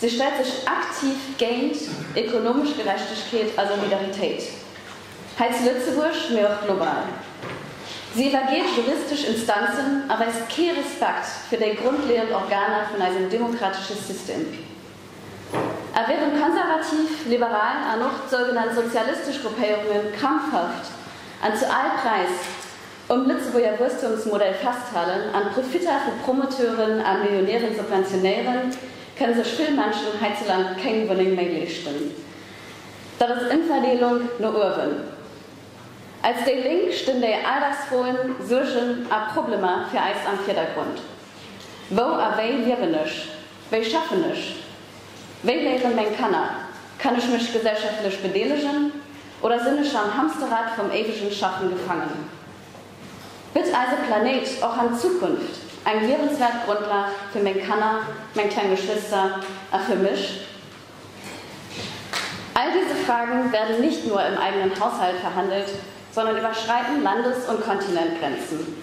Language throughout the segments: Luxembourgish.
Si stellt sech aktiv géint ekonomesch Gerechtegkeet a Solidaritéit, hei zu Lëtzebuerg, mee och global. Si iwwergeet juristesch Instanzen a weist kee Respekt fir déi grondleeënd Organer vun eisem demokratesche System. A wärend konservativ, liberal an och d'sougenannt sozialistesch Gruppéierunge krampfhaft an zu all Präis Um Lëtzebuerger Wuesstumsmodell festhalen an d'Profitter vu Promoteuren a Millionären subventionéieren, kënne sech vill Menschen heizuland kéng Wunneng méi leeschten. Dat ass Emverdeelung no uewen. Als déi Lénk stinn déi Alldagsfroen, Suergen a Problemer fir eis am Virdergrond. Wou a wéi liewen ech? Wéi schaffen ech? Wéi léieren meng Kanner? Kann ech mech gesellschaftlech bedeelegen? Oder sinn ech am Hamsterrad vum éiwegen Schaffen gefaangen? Bitt eise Planéit och an Zukunft eng liewenswäert Grondlag fir meng Kanner, meng kleng Geschwister a fir mech? All diese Fragen werden nicht nur im eigenen Haushalt verhandelt, sondern überschreiten Landes und Kontinentgrenzen.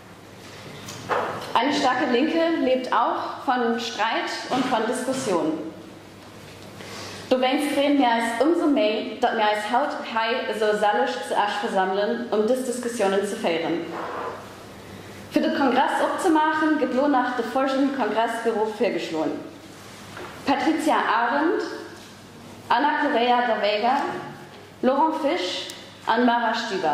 Eine starke Linke lebt auch van Streit und van Diskussion. Dowéinst freeën mir eis umso méi, datt mir eis haut hei esou selleg zu Esch versammelen, um dës Diskussionen ze féieren. Fir de Kongress opzemaachen, gëtt lo nach de folgenden Kongressbüro virgeschloen, Patricia Arendt, Ana Correia da Veiga, Laurent Fisch an Mara Stüber.